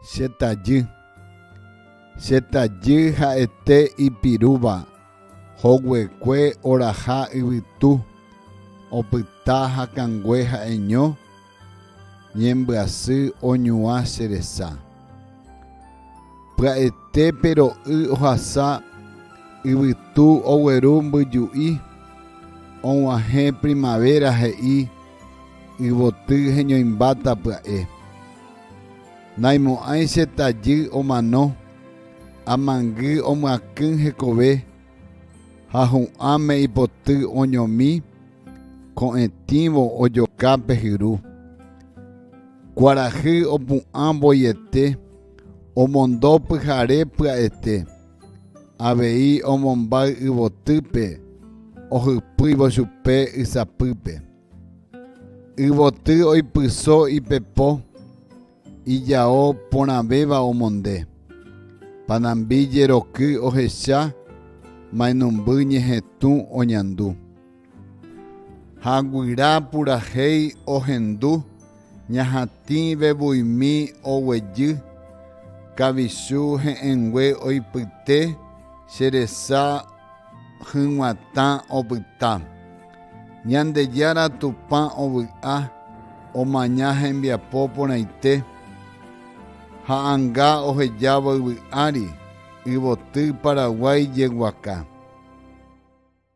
Che tajy. Che tajy ha'ete ipirúva, hoguekue oraha yvytu, opyta hakãngue ha'eño ñembyasy oñuã che resa. Pya'ete pe ro'y ohasa yvytu ogueru mbyju'i, og̃uahẽ primavera he'i Yvoty heñoimbáta pya'e. Naimo'ãi che tajy omano, amangy omyakỹ hekove ha hu'ãme ipoty oñomi ko'ẽtĩvo ojoka pe hyru. Kuarahy opu'ã voiete omondo pyhare pya'ete. Avei omombáy yvotýpe ohypýivo chupe ysapýpe. Yvoty oipyso ipepo ijao porãvéva omonde. Panambi jeroky ohecha, mainumby ñehetũ oñandu. Ha guyra purahéi ohendu, ñahatĩ vevuimi oguejy, kavichu he'ẽngue oipyte, che resa hyg̃uatã opyta. Ñandejára Tupã ovy'a, omaña hembiapo porãite, ha anga ohejávo yvy ári, yvoty Paraguái jeguaka.